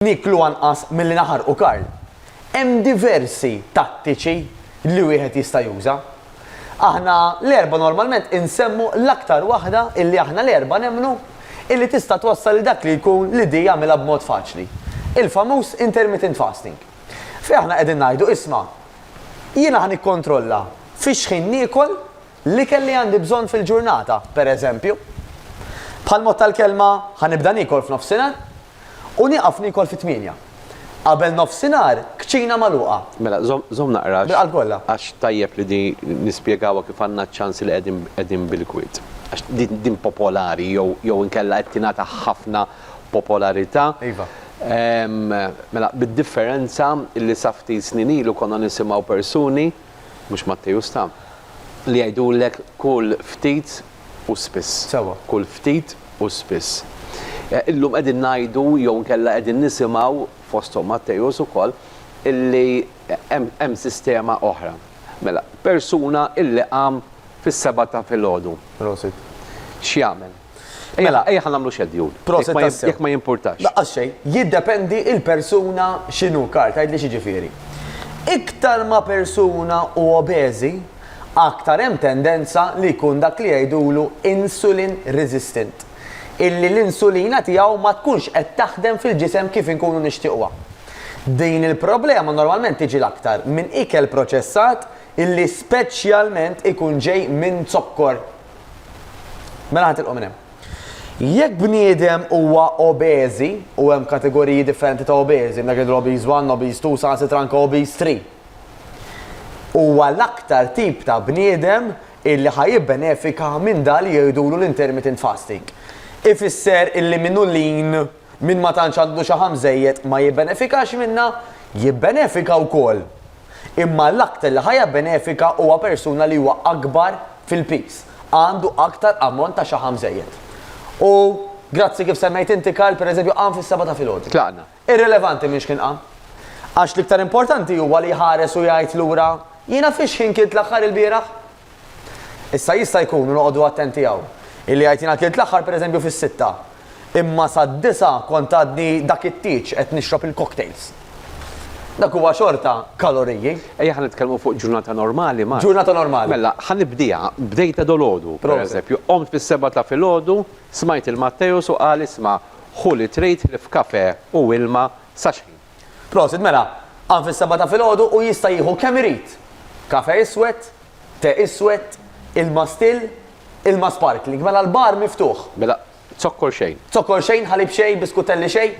Nieklu anqas milli naħarqu Karl. Hemm diversi tattiċi li wieħed jista' juża. Aħna l-erbgħa normalment insemmu l-aktar waħda illi aħna l-erbgħa nemmnu illi tista' twassal lil dak li jkun li di jagħmilha b'mod faċli. Il-famuż intermittent fasting. Fejn aħna qegħdin ngħidu isma', jiena ħa nikkontrolla fix-xħin niekol, L-ikel li għandi bżonn fil-ġurnata, per eżempju. Bħall-mod tal-kelma, ħa nibda niekol f'nofsinhar u nieqaf niekol fit-tmienja. Qabel nofsinhar, kċina magħluqa. Mela, żomm, żomm naqra għax tajjeb li din nispjegawha kif għandna ċ-ċans li qegħdin, qegħdin bil-kwiet. Għax din, din popolari jew, jew inkella qed tingħata ħafna popolarità. Iva. Mela, bid-differenza li sa ftit snin ilu konna nisimgħu persuni, mhux Mattej u Sta, li jgħidulek kul ftit u spiss. Sewwa. Kul ftit u spiss. Illum qegħdin ngħidu jew inkella qegħdin nisimgħu, fosthom Mattejus ukoll, illi hemm sistema oħra. Mela, persuna illi qam fis-sebgħa ta' filgħodu. Prosit. X'jagħmel? Mela, ejja ħa nagħmlu xedjul. Proset Jekk ma jim- tassew. Jekk ma jimpurtax. Laqqas xejn, jiddependi il-persuna x'inhu kar, tgħidli x'jiġifieri. Iktar ma persuna hu obeżi, aktar hemm tendenza li jkun dak li jgħidulu insulin resistant, illi l-insulina tiegħu ma tkunx qed taħdem fil-ġisem kif inkunu nixtiequha. Din il-problema normalment tiġi l-aktar minn ikel proċessat illi speċjalment ikun ġej minn zokkor Mela ħatilqu minn hemm. Jekk bniedem huwa obeżi u hemm kategoriji differenti ta' obeżi, dak id obeż 1, obeż 2, sa sitra anke obeż 3. Huwa l-aktar tip ta' bniedem illi ħa jibbenefika minn dan li jgħidulu l-intermittent fasting. Ifisser illi minnu lin Min ma tantx għandu xaħam bżejjed ma jibbenefikax minnha? Jibbenefika wkoll. Imma l-aktar li ħa jabbenefika huwa persuna li huwa akbar fil-piż, għandu aktar ammont ta' xaħam bżejjed. U grazzi kif semmejt inti Karl, pereżempju, qam fis-sebgħa ta' filgħodu. Tlaqna. Irrilevanti minn x'ħin qam. Għax l-iktar importanti huwa li jħares u jgħid lura, jiena fix-xħin kilt l-aħħar ilbieraħ? Issa jista' jkun, u noqogħdu attenti hawn, illi jgħid jiena klilt l-aħħar pereżempju fis-sitta, imma sad-disgħa kont għadni dak it-tieġ qed nixrob il-cocktails. Dak huwa xorta kaloriji. Ejja ħa nitkellmu fuq ġurnata normali, Mark. Ġurnata normali. Mela, ħa nibdieha, bdejtha dolodu, pereżempju. Qomt fis-sebgħa ta' filgħodu, smajt il-Matteus u qal isma' ħu li trid ħlief kafè u ilma sa xħin? Prosit mela, qam fis-sebgħa ta' filgħodu u jista' jieħu kemm irid, kafe iswed, te iswed, ilma still, ilma sparkling, mela l-bar miftuħ. Mela, zokkor xejn. Zokkor xejn, ħalib xejn, biskutelli xejn.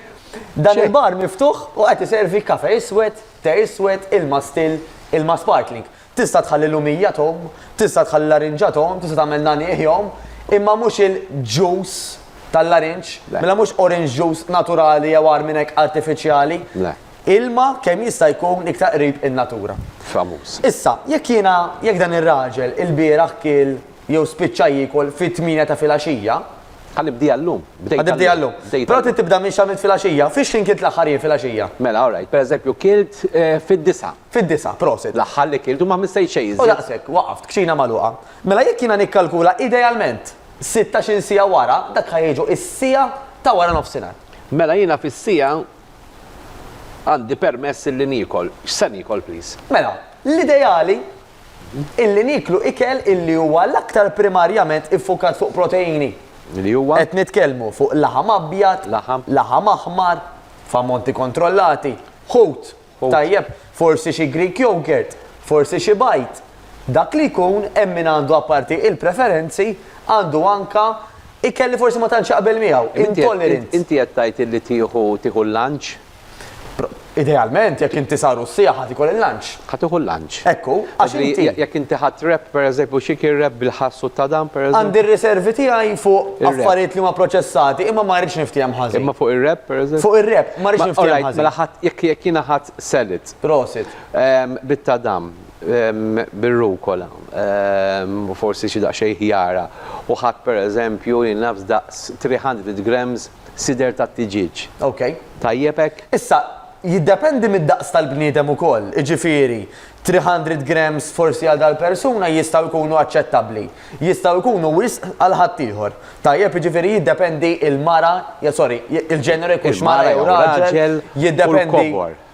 Dan il-bar miftuħ u qed iservi kafe iswed, te iswed, ilma still, ilma sparkling. Tista' tħalli lumija tgħum, tista' tħalli larinġa tgħum, tista' tagħmel nagħniegħ jgħum, imma mhux il-ġus tal-larinġ, mela mhux orange juice naturali jew agħar minn hekk artifiċjali. Le. Ilma kemm jista' jkun iktar qrib in-natura. Famuż. Issa, jekk jiena, jekk dan ir-raġel ilbieraħ kiel jew spiċċa jiekol fit-tmienja ta' filgħaxija, Ħa nibdieha llum. Bdejtha llum. Ħa nibdieha llum. Bdejtha llum. Però trid tibda minn x'għamilt filgħaxija. Fix-x'ħin kilt l-aħħar jien filgħaxija? Mela, all right, pereżempju kilt fid-disgħa. Fid-disa', prosit. L-aħħar li kilt u ma missejt xejn iżjed. U daqshekk, waqaft, kċina magħluqa. Mela jekk jiena nikkalkula idealment sittax-il siegħa wara, dak ħa jiġu s-siegħa ta' wara nofsinhar. Mela jiena fis-siegħa għandi permess illi niekol. X'se niekol please? Mela, l-ideali illi nieklu ikel illi huwa l-aktar primarjament iffukat fuq proteini. Li huwa? Qed nitkellmu fuq laħam abjad. Laħam. Laħam aħmar, f'ammonti kontrollati, ħut. Tajjeb, forsi xi Greek yogurt, forsi xi bajd. Dak li jkun, hemm min għandu apparti il-preferenzi, għandu anka ikel li forsi ma tantx jaqbel miegħu, intolerant. Inti qed tgħid illi tieħu tieħu l-lunch? Idealment, jekk inti sar u s-sieħa ħa tieħu l-lunch. Ħa tieħu l-lunch. tħassibx. Hekk hu, għax inti. Jekk inti ħadt rap, pereżempju, xi kien rap bil-ħass u t-tadam, pereżempju? Għandi r-riservi tiegħi fuq affarijiet li huma proċessati, imma ma rridx niftiehem ħażin. Imma fuq ir-rap, pereżempju? Fuq ir-rap, ma rridx niftiehem ħażin. Orajt, mela ħadd, jekk jiena ħadd Selit. Prosit. Bit-tadam, bir-rukola, u forsi xi daqsxejn ħjara, u ħadt pereżempju, jien naf, daqs 300 grams sider tat-tiġieġ. Okay. Tajjeb hekk? Issa, jiddependi mid-daqs tal-bniedem ukoll, jiġifieri, 300 grams forsi għal dal-persuna jistgħu jkunu aċċettabbli. Jistgħu jkunu wisq għal ħaddieħor. Tajjeb, jiġifieri jiddependi il-mara, sorry, il-ġeneru jkunx mara jew raġel, jiddependi.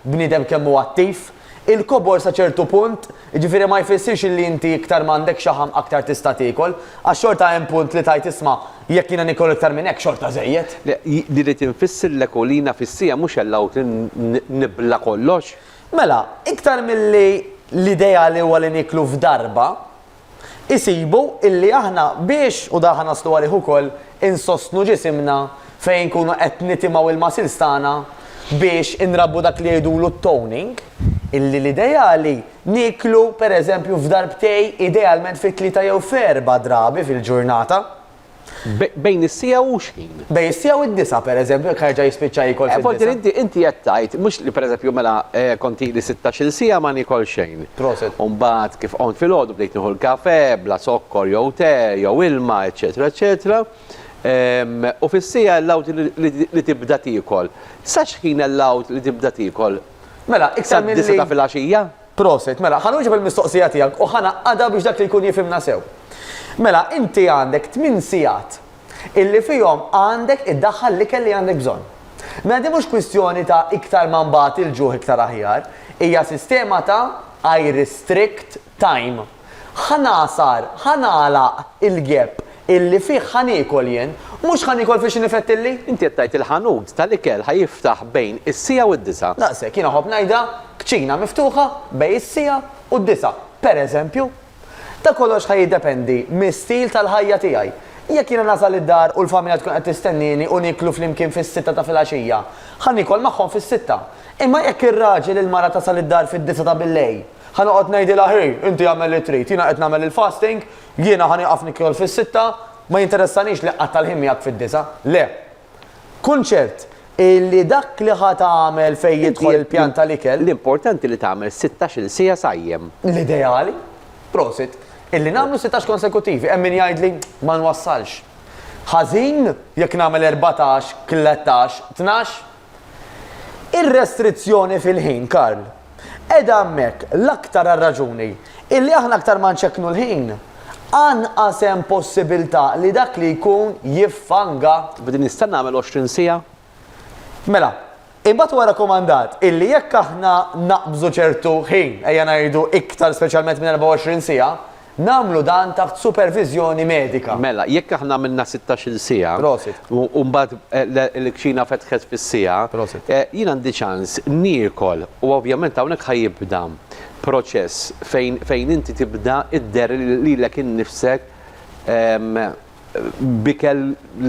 bniedem kemm hu attiv. Il-kobor sa ċertu punt, jiġifieri ma jfissirx li inti iktar ma għandek xaħam aktar tista' tiekol, għax xorta hemm punt li tgħid isma' jekk jiena niekol iktar minn hekk xorta żejjed. Le, irrid infisser l-ekolina fis-siegħa mhux allowed li nibla' kollox. Mela, iktar milli l-idea li huwa li nieklu f'darba, isibu illi aħna biex, u dan ħa naslu għalih ukoll, insostnu ġisimna fejn inkunu qed nitimgħu l-muscles tagħna biex inrabbu dak li jgħidulu t-toning, illi l-ideali nieklu pereżempju f'darbtej idealment fit-tlieta jew f'erbgħa drabi fil-ġurnata. Bejn is-siegħa u x'ħin? Bejn is-siegħa u d-disgħa, pereżempju, jekk jerġa' jispiċċa jiekol fid-disgħa. Forsi inti inti qed tgħid mhux li pereżempju mela kont ili sittax-il siegħa ma niekol xejn. Proset. U mbagħad kif qomt filgħodu bdejt nieħu l-kafè bla zokkor jew te jew ilma, eċċetera, eċċetera. U fis-siegħa allowed li tibda tiekol. Sa x'ħin allowed li tibda tiekol? Mela, iktar milli. Sad-disgħa ta' filgħaxija? Prosit. Mela, ħa nwieġeb il-mistoqsija tiegħek u ħa ngħaqqadha biex dak li jkun jifhimna sew. Mela, inti għandek tmien sigħat illi fihom għandek iddaħħal l-ikel li għandek bżonn. Mela din mhux kwistjoni ta' iktar ma nbati l-ġuħ iktar aħjar, hija sistema ta' I restrict time. Ħa ngħasar, ħa nagħlaq il-gepp illi fih ħa niekol jien, mhux ħa niekol fil-xi nifett illi. Inti qed tgħid il-ħanut tal-ikel ħa jiftaħ bejn is-siegħa u d-disgħa. Daqshekk, jien iħobb ngħidha, kċina miftuħa bejn is-siegħa u d-disgħa, pereżempju. Dan kollox ħa jiddependi mis-stil tal-ħajja tiegħi. Jekk jiena nasal id-dar u l-familja tkun qed tistennieni u nieklu flimkien fis-sitta ta' filgħaxija, ħa niekol magħhom fis-sitta. Imma jekk ir-raġel il-mara tasal id-dar fid-disgħa ta' billejl, Ħa noqgħod ngħidilha hi, inti agħmel li trid, jiena qed nagħmel il-fasting, jiena ħa nieqaf nikol fis-sitta, ma jinteressanix li qatta' l-ħin miegħek fid-disgħa. Le. Kun ċert illi dak li ħa tagħmel fejn jidħol il-pjan tal-ikel. L-importanti li tagħmel sittax-il siegħa sajjem. L-ideali, prosit, illi nagħmlu sittax konsekuttivi. Hemm min jgħidli, ma nwassalx. Ħażin jekk nagħmel erbatax, tlettax, tnax? Ir-restrizzjoni fil-ħin, Karl, qiegħda hemmhekk l-aktar għar-raġuni illi aħna aktar ma nċekknu l-ħin, anqas hemm possibilità li dak li jkun jiffanga. B'din nista' nagħmel għoxrin siegħa? Mela, imbagħad huwa rakkomandat illi jekk aħna naqbżu ċertu ħin, ejja ngħidu iktar speċjalment minn 24 siegħa, Nagħmlu dan taħt superviżjoni medika. Mela, jekk aħna għamilna sittax-il siegħa. Prosit. U mbagħad il-kċina fetħet fis-siegħa. Prosit. Jien għandi ċans niekol u ovvjament hawnhekk ħa jibda proċess fejn fejn inti tibda dderr lilek innifsek b'ikel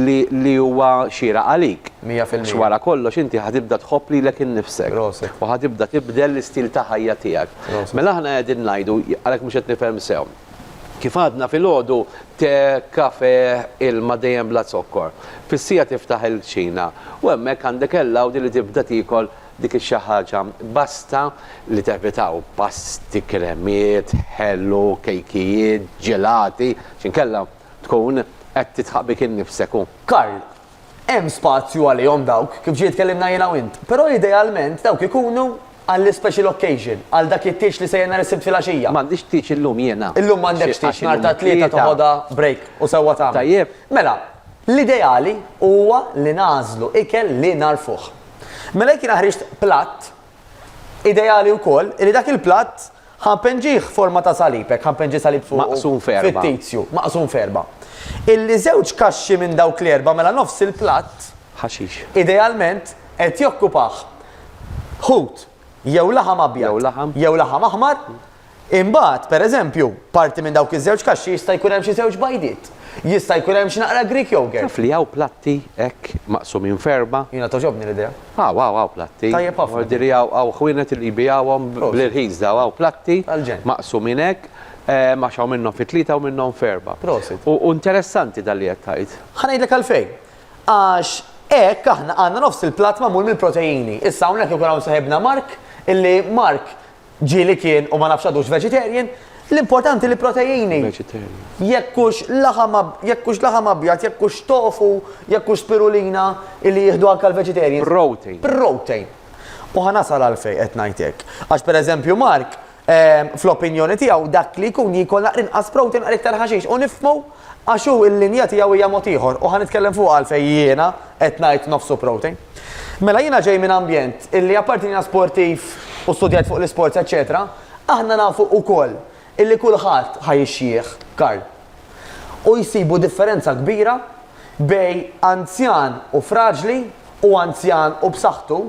li huwa xieraq għalik. Mija fil-mija. Għax wara kollox inti ħa tibda tħobb lilek innifsek. Proset. U ħa tibda tibdel l-istil ta' ħajja tiegħek. Proset. Mela aħna qegħdin ngħidu, għalhekk mhux qed nifhem sew. Kif għadna filgħodu, te, kafè, ilma dejjem bla zokkor. Fis-siegħa tiftaħ il-kċina u hemmhekk għandek il-lawdi li tibda tiekol Dik ix-xi ħaġa basta li tevitaw pasti, kremiet, ħelu, kejkijiet, ġelati, x'inkella tkun qed tidħaq bik innifsek u. Karl, Hemm spazju għalihom dawk, kif ġiet tkellimna jiena u int, però idealment dawk ikunu għall-ispecial occasion, għal dak it-tieġ li sejjer nhar is-Sibt filgħaxija. M'għandix tieġ illum jiena. Illum m'għandekx tieġ, nhar tat-Tlieta toħodha break u sewwa tagħmel. Tajjeb. Mela, l-ideali huwa li nagħżlu ikel li nagħrfuh. Mela jekk jiena ħriġt platt, ideali wkoll li dak il-platt ħanpenġih forma ta' salib, hekk ħanpenġi salib fuq. Maqsum ferba. Fittizju, maqsum ferba. Illi żewġ kaxxi minn dawk l-erba' mela nofs il-platt. Ħaxix. Idealment qed jokkupah ħut jew laħam abjad. Jew laħam. Jew laħam aħmar. Imbagħad, per eżempju, parti minn dawk iż-żewġ kaxxi jista' jkun hemm xi żewġ bajdiet. Jista' jkun hemm xi naqra Greek yogurt. Taf li hawn platti hekk maqsumin f'erbgħa? Jiena togħġobni l-idea. Hawn, hawn, hawn platti. Tajjeb ħafna. Ordiri hawn, hawn ħwienet li jbigħuhom bl-irħis dawn. Hawn platti maqsumin hekk għax hawn minnhom fi tlieta hawn minnhom f'erbgħa. Prosit. U interessanti dan li qed tgħid. Ħa ngħidlek għalfejn. Għax hekk aħna għandna nofs il-platt magħmul mill-proteini. Issa hawnhekk ikun hawn saħibna Mark, illi Mark, ġieli kien u ma nafx għadux vegetarian, l-importanti li proteini. Jekkux laħam jekkux laħam abjad, jekkux tofu, jekkux spirulina illi jieħdu anke l-vegetarian. Protein. Protein. U ħanasal għalfej qed ngħidlek. Għax pereżempju Mark, ehm, fl-opinjoni tiegħu dak li jkun jikol naqrinqas protein għal iktar ħaxix u nifmu Għax hu l-linja tiegħu hija mod ieħor u ħa nitkellem fuqha għalfejn jiena qed ngħid nofsu Prote. Mela jiena ġej minn ambjent illi apparti li jiena sportiv u studjajt fuq l-isports eċċetera, aħna nafu ukoll illi kulħadd ħa jixjieħ, Karl. U jsibu differenza kbira bejn anzjan u fraġli u anzjan u b'saħħtu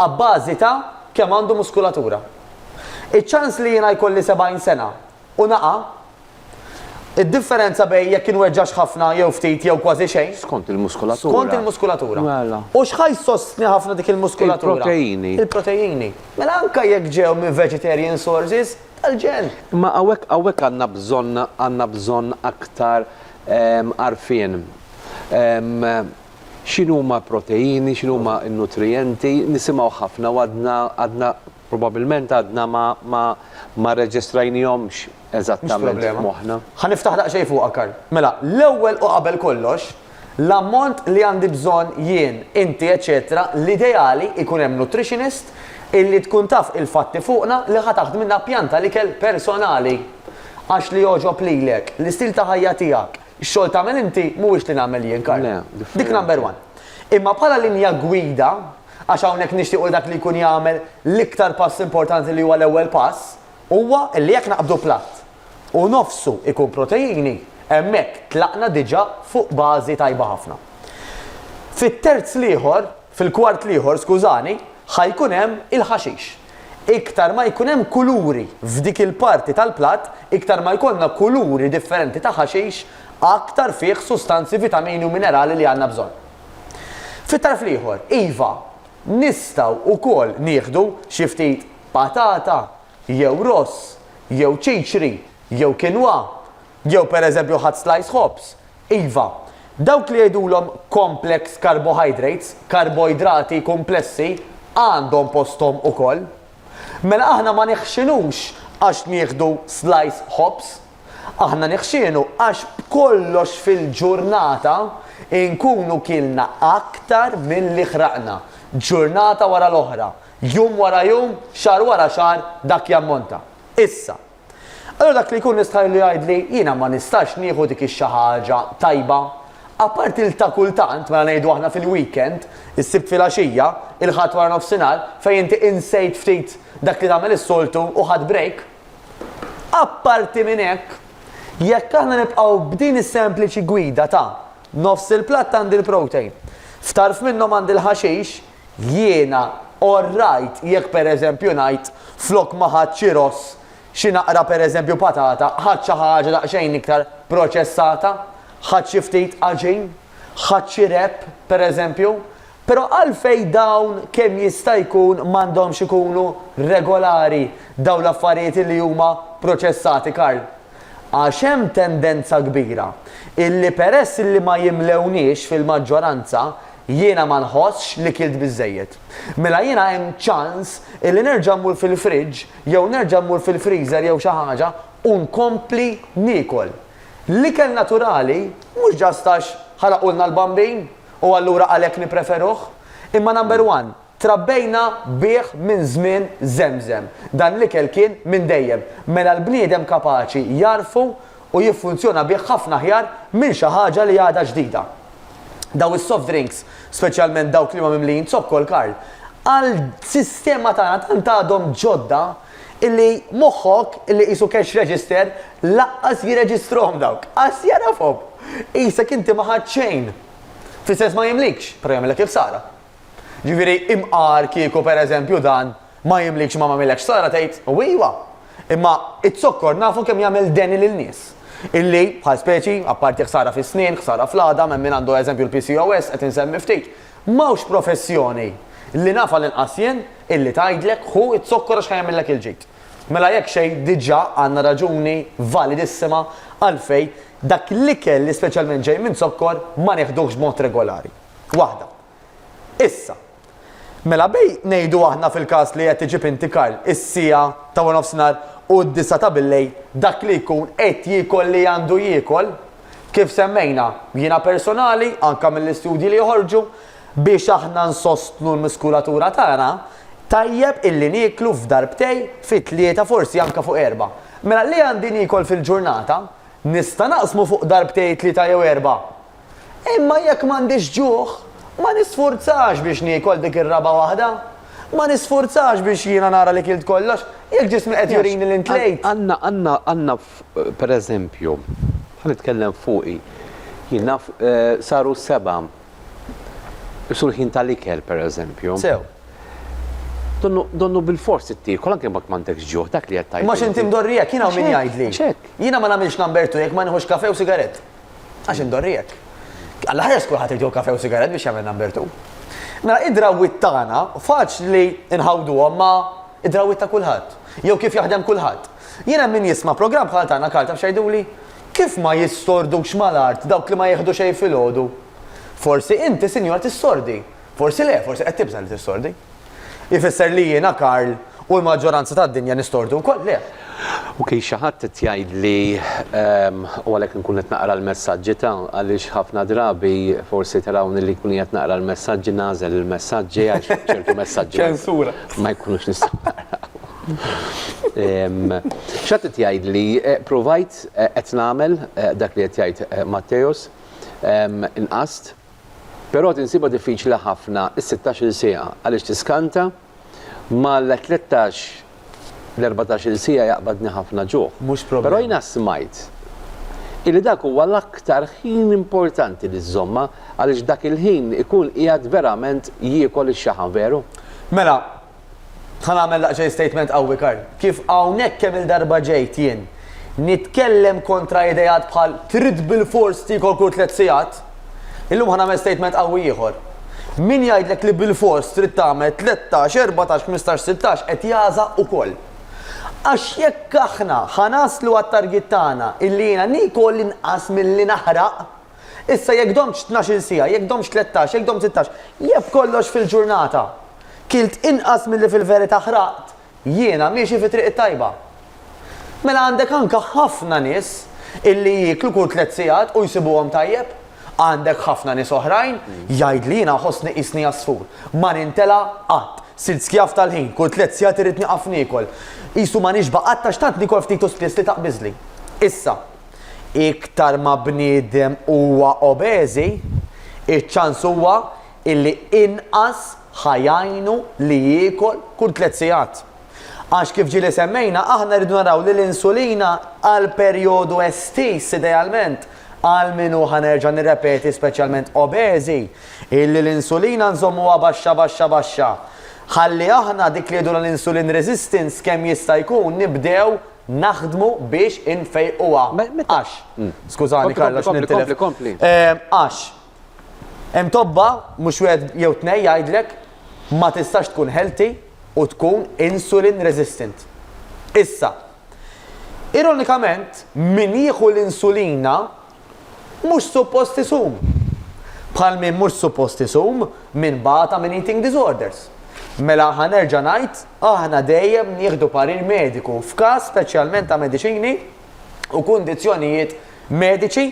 abbażi ta' kemm għandu muskulatura. Iċ-ċans li jiena jkolli 70 sena u naqa' Id-differenza bejn jekk inweġġax ħafna jew ftit jew kważi xejn. Skont il-muskulatura. Skont il-muskulatura. Mela. U x'ħa jsostni ħafna dik il-muskulatura? Il-proteini. Il-proteini. Mela anke jekk ġew minn vegetarian sources, tal-ġen. Imma hawnhekk hawnhekk għandna bżonn għandna bżonn aktar għarfien. X'inhuma proteini, x'inhuma n-nutrijenti, nisimgħu ħafna u għadna għadna Probabilment għadna ma ma ma rreġistrajnihomx eżattament f'moħħna. Ħa niftaħ daqsxejn fuqha Karl. Mela, l-ewwel u qabel kollox, l-ammont li għandi bżonn jien, inti eċċetera, l-ideali jkun hemm nutritionist illi tkun taf il-fatti fuqna li ħa taħdmilna pjan tal-ikel personali. Għax li jogħġob lilek, l-istil ta' ħajja tiegħek, x-xogħol tagħmel inti mhuwiex li nagħmel jien Karl. Dik number one. Imma bħala linja gwida, Għax hawnhekk nixtiequ li dak li jkun jagħmel l-iktar pass importanti li huwa l-ewwel pass, huwa li jekk naqbdu platt u nofsu jkun proteini, hemmhekk tlaqna diġà fuq bażi tajba ħafna. Fit-terz l-ieħor, fil-kwart l-ieħor, skużani, ħa jkun hemm il-ħaxix. Iktar ma jkun hemm kuluri f'dik il-parti tal-platt, iktar ma jkollna kuluri differenti ta' ħaxix, aktar fih sustanzi, vitamini u minerali li għandna bżonn. Fit-tarf l-ieħor, iva, nistgħu wkoll nieħdu xi ftit patata jew ross jew ċiċri jew kinwa jew pereżempju ħadt slice ħobż. Iva, dawk li jgħidulhom complex carbohydrates, karboidrati kumplessi, għandhom posthom ukoll. Mela aħna ma neħxinux għax nieħdu slice ħobż. Aħna niħxienu għax b'kollox fil-ġurnata nkunu kielna aktar milli ħraqna. Ġurnata wara l-oħra, jum wara jum, xahar wara xahar, dak jammonta. Issa. Allura dak li jkun nistħajlu jgħidli, jiena ma nistax nieħu dik ix-xi ħaġa tajba. Apparti l-ta' kultant, mela ngħidu aħna fil-weekend, is-Sibt filgħaxija, il-Ħadd waranofsinhar, fejn inti insejt ftit dak li tagħmel is-soltu u ħadt break. Apparti minn hekk, jekk aħna nibqgħu b'din is-sempliċi gwida ta' nofs il-platt għandi l-protein, f'tarf minnhom għandi l-ħaxix, jiena all right jekk pereżempju ngħid flok ma ħadt xi ross, xi naqra pereżempju patata, ħadt xi ħaġa daqsxejn iktar proċessata, ħadt xi ftit għaġin, ħadt xi wrap pereżempju, Però għalfejn dawn kemm jista' jkun m'għandhomx ikunu regolari dawn l-affarijiet li huma proċessati, Karl? Għax hemm tendenza kbira illi peress illi ma jimlewniex fil-maġġoranza, jiena ma nħossx li kilt biżżejjed. Mela jiena hemm ċans illi nerġa' mmur fil-fridge jew nerġa' mmur fil-freezer jew xi ħaġa u nkompli niekol. L-ikel naturali mhux ġast għax ħaraqulna l-bambin. u allura għalhekk nippreferuh. Imma number one, trabbejna bih minn żmien żemżem. Dan l-ikel kien minn dejjem. Mela l-bniedem kapaċi jagħrfu u jiffunzjona bih ħafna aħjar minn xi ħaġa li għadha ġdida. Dawn is-soft drinks, speċjalment dawk li huma mimlijin zokkol, Karl, għall-sistema tagħna tant għadhom ġodda, illi moħħok illi qisu cash register laqqas jirreġistrahom dawk. Qas jagħrafhom. Qisek inti ma ħadt xejn. Fl-istess ma jimlikx, però jagħmilek il-ħsara. Ġifieri imqar kieku pereżempju dan ma jimlikx ma m'għamillekx ħsara tgħid u iva. Imma iz-zokkor nafu kemm jagħmel deni lil nies. Illi, bħal speċi, apparti ħsara fis-snien, ħsara fl-għadam, hemm min għandu eżempju l-PCOS, qed insemmi ftit, M'hawnx professjoni, li naf għal inqas jien, illi tgħidlek, ħu z-zokkor għax ħa jagħmillek il-ġid. Mela jekk xejn diġà għandna raġuni validissima għalfejn dak l-ikel li speċjalment ġej minn zokkor ma neħduhx b'mod regolari. Waħda. Issa, mela bejn ngħidu aħna fil-każ li qed iġib inti Karl, is-siegħa ta' waranofsinhar u d-disgħa ta' billejl dak li jkun qed jiekol li għandu jiekol, Kif semmejna, jiena personali, anke mill-istudji li joħorġu, biex aħna nsostnu l-muskulatura tagħna, tajjeb illi nieklu f'darbtej fi tlieta forsi anke fuq erba'. Mela li għandi niekol fil-ġurnata, nista' naqsmu fuq darbtej tlieta jew erba'. Imma jekk m'għandix ġuħ, ma nisfurzax biex niekol dik ir-raba' waħda. Ma nisfurzax biex jiena nara li kilt kollox, jekk ġismi qed jurini li ntlejt. Għandna per eżempju, ħa nitkellem fuqi, jien naf saru seba' sulħin tal-ikel per eżempju. Sew. Donnu, donnu bilfors ittiekol anke jekk m'għandekx ġuħ, dak li qed tgħid. Imma x'inti mdorrijek, jien hawn min jgħidli. Għax hekk. Jiena ma nagħmilx number two jekk ma nieħux kafè u sigarett. Għax indorrijek. Alla ħares kulħadd irid jieħu kafè u sigarett biex jagħmel number two. Mela id-drawwiet tagħna faċli nħawduhom ma' id-drawwiet ta' kulħadd jew kif jaħdem kulħadd. Jien hemm min jisma' programm bħal tagħna Karl taf x'jgħiduli? Kif ma jissordux mal-art dawk li ma jieħdu xejn filgħodu? Forsi inti sinjura tissordi, forsi le, forsi qed tibża' li tissordi. Ifisser li jiena Karl u l-maġġoranza tad-dinja nistordu wkoll? Le. Ok xi ħadd qed jgħidli ehm u għalhekk inkun qed naqra l-messaġġi ta' għaliex ħafna drabi forsi tarawni li jkun qiegħed naqra l-messaġġi nagħżel il-messaġġi għax ċertu messaġġi ma jkunux nistgħu naqrawhom. X'għad qed jgħidli? Ppruvajt, qed nagħmel dak li qed jgħid Matteus, inqast, però qed insibha diffiċli ħafna s-sittax-il siegħa għaliex tiskanta, ma l-tlettax, l-erbatax-il siegħa jaqbadni ħafna ġuħ. Però jiena smajt illi dak huwa l-aktar ħin importanti li żżommha għaliex dak il-ħin ikun qiegħed verament jiekol ix-xaħam, veru? Mela, Ħa nagħmel daqsxejn statement qawwi Karl. Kif hawnhekk kemm-il darba ġejt jien nitkellem kontra ideat bħal trid bilfors tiekol kull tliet sigħat, illum ħa nagħmel statement qawwi ieħor. Min jgħidlek li bilfors trid tagħmel tlettax, erbatax, ħmistax, sittax qed jagħża ukoll. Għax jekk aħna ħa naslu għat-target tagħna illi jiena niekol inqas milli naħraq, Issa jekk domtx tnax-il siegħa, jekk domtx tlettax, jekk domt sittax, jekk b'kollox fil-ġurnata kilt inqas milli fil-verità ħraqt, jiena miexi fit-triq it-tajba. Mela għandek anke ħafna nies illi jieklu kull tliet sigħat u jsibuhom tajjeb. Għandek ħafna nies oħrajn, jgħid li jiena nħossni qisni għasfur. Ma nintela' qatt. Sirt skjav tal-ħin, kull tliet sigħat irrid nieqaf niekol. Qisu ma nixba' qatt għax tant niekol ftit u spiss li taqbiżli. Issa. Iktar ma bniedem huwa obeżi, iċ-ċans huwa illi inqas ħa jgħinu li jiekol kull tliet sigħat. Għax kif ġieli semmejna aħna rridu naraw li l-insulina għal perjodu estiż idealment għal min hu ħa nerġa' nirrepeti speċjalment obeżi illi l-insulina nżommuha baxxa baxxa baxxa ħalli aħna dik li jgħidulha l-insulin resistance kemm jista' jkun nibdew naħdmu biex infejquha. Għax, skużani Carlo għax nintilef. Għax, hemm tobba mhux wieħed jew tnej jgħidlek ma tistax tkun healthy u tkun insulin resistant. Issa, ironikament, min jieħu l-insulina mhux suppost isum, bħal min mhux suppost isum min bata minn eating disorders. Mela ħa nerġa' ngħid, aħna dejjem nieħdu parir mediku f'każ speċjalment ta' mediċini u kundizzjonijiet mediċi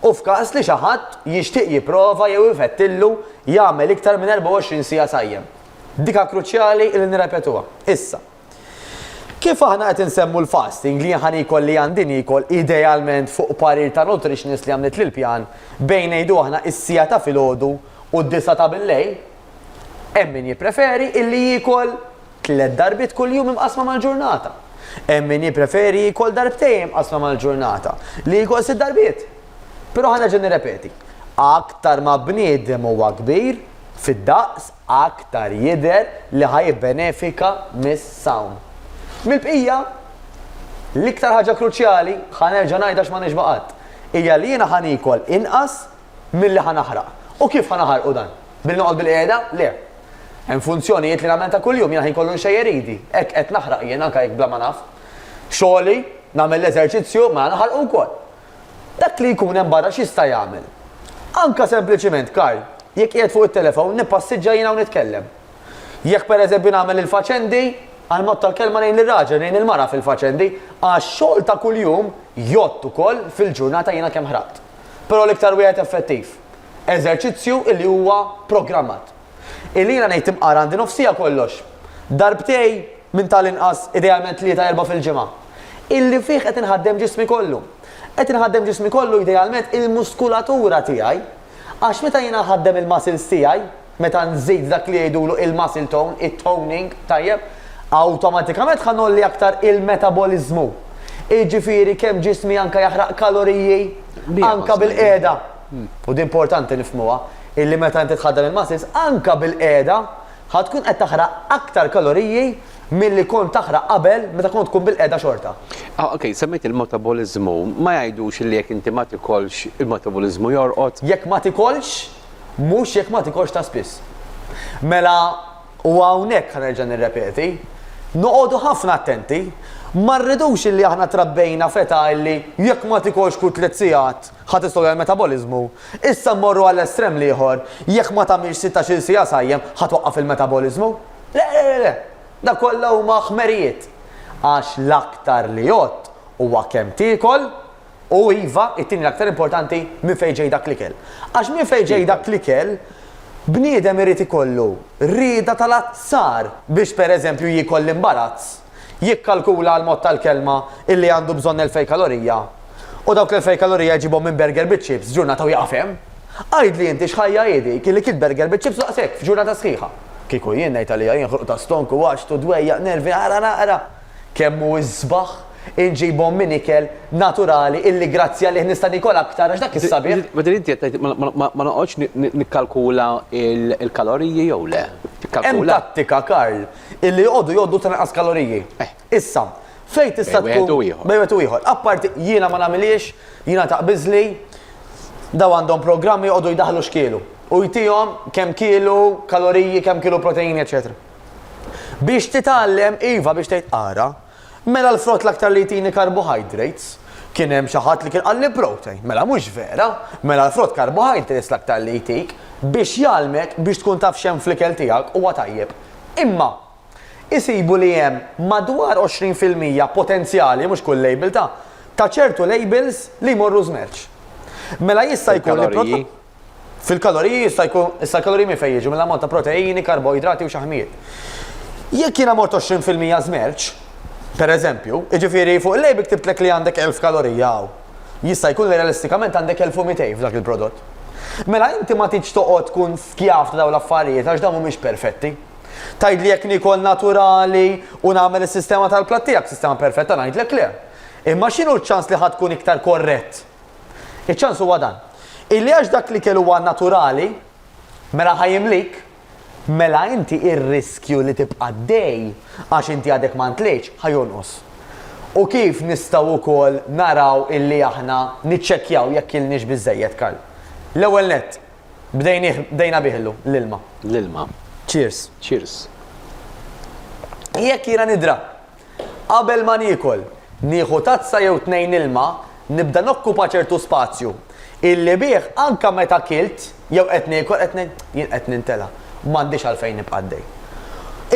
u f'każ li xi ħadd jixtieq jipprova jew ifettillu jagħmel iktar minn 24 siegħa sajjem. Dika kruċjali li nirrepetuha. Issa. Kif aħna qed insemmu l-fasting li ħan ikol li għandi nikol idealment fuq parir ta' nutritionist li għamlet lil pjan bejn ngħidu aħna is-sija ta' filgħodu u d-disa ta' bil-lejl, hemm min jippreferi illi jiekol tliet darbit kuljum imqasma mal-ġurnata. Hemm min jippreferi jiekol darbtejn imqasma mal-ġurnata li jiekol sitt darbiet. Però ħanerġa' nirrepeti, aktar ma bniedem huwa kbir fid-daqs aktar jidher li ħa jibbenefika mis-sawm. Mill-bqija, l-iktar ħaġa kruċjali, ħa nerġa' ngħidha għax ma nixba' qatt, hija li jiena ħa niekol inqas milli ħa naħraq. U kif ħa naħarqu dan? Billi noqgħod bilqiegħda? Le. Hemm funzjonijiet li nagħmel ta' kuljum, jiena ħin kollu nxejjer idi, hekk qed naħraq jien anke jekk bla ma naf. Xogħli, nagħmel l-eżerċizzju, mela naħarqu wkoll. Dak li jkun hemm barra x'jista' jagħmel? Anke sempliċiment, Karl, jekk qiegħed fuq it-telefown, nippassiġġa jiena u nitkellem. Jekk pereżempju nagħmel il-faċendi, għal mod tal-kelma ngħin lir-raġel, ngħin il-mara fil-faċendi, għax-xogħol ta' kuljum jgħodd ukoll fil-ġurnata jiena kemm ħraqt. Però l-iktar wieħed effettiv. Eżerċizzju li huwa programmat. Ilina ngħid imqar għandi nofsija kollox. Darbtej, minn tal-inqas, idealment tlieta erbgħa fil-ġimgħa. Illi fih qed inħaddem ġismi kollu. Qed inħaddem ġismi kollu idealment il-muskulatura tiegħi. Għax meta jiena nħaddem il-muscles tiegħi, meta nżid dak li jgħidulu il-muscle tone, it-toning, tajjeb, awtomatikament ħa ngħolli aktar il-metaboliżmu. Jiġifieri kemm ġismi anke jaħraq kaloriji anke bil-qiegħda. u di importanti nifhmuha, illi meta inti tħaddan il-muscles, anke bil-qiegħda, ħa tkun qed taħraq aktar kaloriji milli kont taħraq qabel meta kont tkun bil-qiegħda xorta. Ah, okej, semmejt il-metaboliżmu. Ma jgħidux illi jekk inti ma tikolx il-metaboliżmu jorqod? Jekk ma tikolx, mhux jekk ma tikolx ta' spiss. Mela, u hawnhekk ħanerġa' nirrepeti, noqogħdu ħafna attenti, ma rridux illi aħna trabbejna feta illi jekk ma tikolx kull tliet sigħat Ħa tistogħob il-metaboliżmu. Issa mmorru għall-estrem l-ieħor, jekk ma tagħmilx sittax-il siegħa sajjem, ħa twaqqaf il-metaboliżmu? Le, le, le, le! Dak kollha huma ħmerijiet. Għax l-aktar li għodt huwa kemm tiekol, u iva, it-tieni l-aktar importanti, minn fejn ġej dak l-ikel. Għax minn fejn ġej dak l-ikel, bniedem irid ikollu rieda tal-azzar biex pereżempju jiekol l-imbarazz. Jikkalkula għall-mod tal-kelma illi għandu bżonn elfej kalorija u dawk l-elfej kalorija jġibhom minn burger biċ-chips f'ġurnata u jaqaf hemm? Għidli inti x'ħajja hi dik illi kilt burger biċ-chips daqs hekk f'ġurnata sħiħa? Kieku jien ngħid għalija jien ħruq ta' stonk u għatx u dwejjaq nervi ara naqra kemm hu isbaħ inġibhom minn ikel naturali illi grazzi għalih nista' niekol aktar għax dak is-sabiħ. Within inti qed tgħid ma noqgħodx nikkalkula l-kaloriji jew le? Hemm tattika Karl. Illi joqogħdu jgħoddu ta' inqas kaloriji. Issa, fejn tista' tkun. Bejn wieħed u ieħor. Bejn wieħed u ieħor. Apparti, jiena ma nagħmilhiex, jiena taqbiżli, dawn għandhom programm joqogħdu jdaħħlu x'kielu. U jtihom kemm kielu kaloriji, kemm kielu proteini, eċċetera. Biex titgħallem, iva, biex tgħid ara. Mela l-frott l-aktar li jtini carbohydrates. Kien hemm xi ħadd li kien qalli protein. Mela mhux vera. Mela l-frott carbohydrates l-aktar li jtik biex jgħallmek biex tkun taf x'hemm fl-ikel tiegħek huwa tajjeb. Imma isibu li hemm madwar 20 fil-mija potenzjali, mhux kull label, ta' ta' ċertu labels li jmorru żmerċ. Mela jista' jkun li prodotti. Fil-kaloriji jista' jkun, issa l-kaloriji minn fejn jiġu mill-ammont ta' proteini, karboidrati u xaħmijiet. Jekk jiena mort 20% żmerċ, pereżempju, jiġifieri fuq il-label ktibtlek li għandek 1000 kalorija hawn, jista' jkun li realistikament għandek 1200 f'dak il-prodott. Mela inti ma tridx toqgħod tkun skjav ta' dawn l-affarijiet għax dawn mhumiex perfetti. Tgħidli jekk niekol naturali u nagħmel is-sistema tal-platt tiegħek sistema perfetta ngħidlek le. Imma x'inhu ċ-ċans li ħa tkun iktar korrett? Iċ-ċans huwa dan, illi għax dak l-ikel huwa naturali, mela ħa jimlik, mela inti r-riskju li tibqa' għaddej għax inti għadek ma ntlejtx ħa jonqos. U kif nistgħu wkoll naraw illi aħna niċċekkjaw jekk kilniex biżżejjed, Karl? L-ewwel nett, bdejnih, bdejna bih illum, l-ilma. L-ilma. Cheers. Cheers. Jekk jiena nidra Qabel ma niekol, nieħu tazza jew tnejn ilma, nibda nokkupa ċertu spazju, illi bih anke meta kilt jew qed niekol qed jien qed nintela' u m'għandix għalfejn nibqa' għaddej.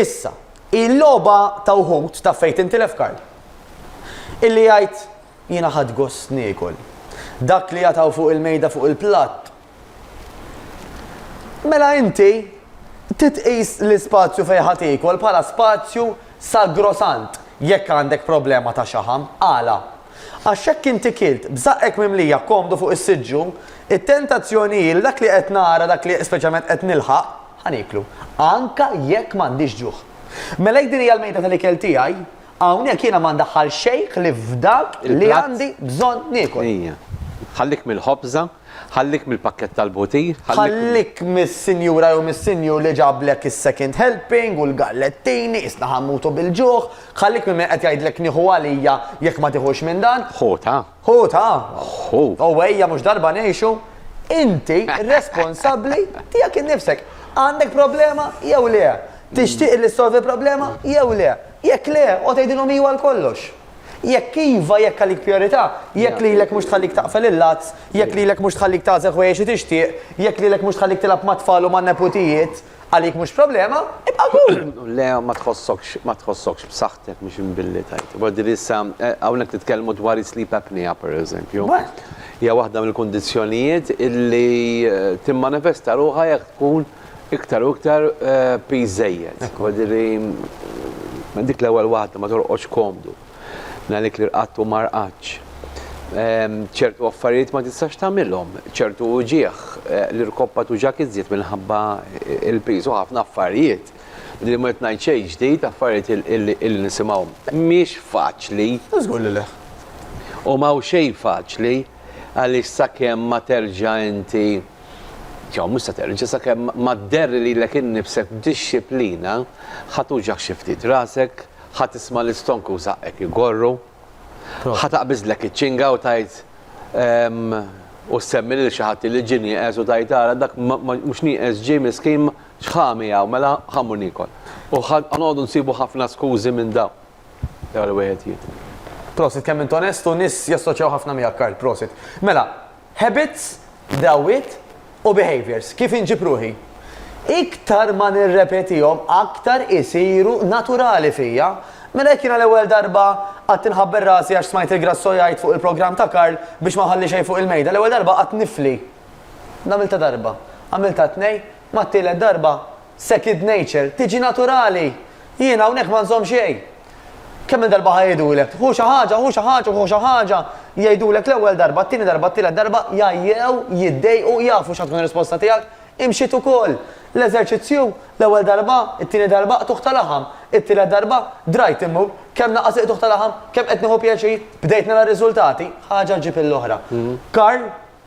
Issa, hi l-logħba ta' wħud, taf fejn tintilef Karl? Illi jgħid, jiena ħadt gost niekol. Dak li jatgħu fuq il-mejda fuq il-platt Mela inti trid tqis l-ispazju fejn ħa tiekol bħala spazju sagrosant jekk għandek problema ta' xaħam. Għala? Għax jekk inti kilt b'żaqqek mimlija komdu fuq is-siġġu, it-tentazzjoni hi li dak li qed nara, dak li speċjalment qed nilħaq, ħa nieklu, anke jekk m'għandix ġuħ. Mela jekk din hija l-mejda tal-ikel tiegħi, hawnhekk jiena ma ndaħħal xejn ħlief f'dak li għandi bżonn niekol. Ejja. Ħallik mill-ħobża Ħallik mill-pakkett tal-butir, ħallik. Ħallik mis-sinjura jew mis-sinjur li ġablek is-second helping u l-gallettini, qisna ħa mmutu bil-ġuħ, ħallik minn min qed jgħidlek nieħu għalija jekk ma tiħux minn dan. Ħu ta'. Ħu ta'. Ħu. U ejja mhux darba ngħixu. Inti responsabbli tiegħek innifsek. Għandek problema jew le? Tixtieq li ssolvi problema jew le? Jekk le, oqgħod għidilhom iwa għal kollox. Jekk iva, jekk għalik prijorità, jekk lilek mhux tħallik taqfel il-lats, jekk lilek mhux tħallik tagħżel ħwejjeġ li tixtieq, jekk lilek mhux tħallik tilgħab mat-tfal u man-neputijiet, għalik mhux problema, ibqa' kul! Le, ma tħossokx, ma tħossokx b'saħħtek mhux imbilli tgħid. Imma din issa, hawnhekk nitkellmu dwar is-sleep apnea pereżempju. Hija waħda mill-kundizzjonijiet illi timmanifesta ruħha jekk tkun Iktar u iktar piż żejjed. Ekku. Ġifieri li minn dik l-ewwel waħda ma torqodx komdu, minn għalik li rqadt u ma rqadtx. Ċertu affarijiet ma tistax tagħmilhom, ċertu uġigħ, li rkoppha tuġgħek iżjed minħabba l-piż u ħafna affarijiet. Ġifieri li ma rrid ngħid xejn ġdid, affarijiet illi nisimgħu. Mhix faċli. Żgur li le. U m'hawn xejn faċli għaliex sakemm ma terġa' inti. Jew mhux se terġa' sakemm ma dderr lilek innifsek b'dixxiplina, ħa tuġagħ xi ftit rasek, ħa tisma' l-istonk u żaqqek igorru, ħa taqbiżlek iċ-ċinga u tgħid u ssemmi lil xi ħadd li ġie nieqes u tgħid ara dak mhux nieqes ġie miskin x'ħa miegħu mela ħa mmur niekol. U ħa noqogħdu nsibu ħafna skużi minn dawn. Ewwel wieħed jiekol. Prosit kemm int onest u nies jassoċjaw ħafna miegħek Karl, prosit. Mela, Habits, drawwiet, u behaviours, kif inġib ruħi. Iktar ma nirrepetihom aktar isiru naturali fija. Mela jekk jiena l-ewwel darba qgħadt inħabber rasi għax smajt il-Grasso jgħid fuq il-programm ta' Karl biex ma nħalli xejn fuq il-mejda, l-ewwel darba qgħadt nifli. Għamiltha darba, għamiltha tnejn, mat-tielet darba, second nature, tiġi naturali. Jiena hawnhekk ma nżomm xejn. Kemm minn darba ħajdulek, hu xi ħaġa, hu xi ħaġa, hu xi ħaġa, jgħidulek l-ewwel darba, t-tieni darba, t-tielet darba, jgħajjew, jiddejqu, jafu x'ħa tkun ir-risposta tiegħek, imxiet ukoll. L-eżerċizzju, l-ewwel darba, it-tieni darba, qtugħ ta' laħam, it-tielet darba, drajt immur, kemm naqas il-qtugħ ta' laħam, kemm qed nieħu pjaċir, bdejt nara r-riżultati, ħaġa ġġib il-oħra. Karl,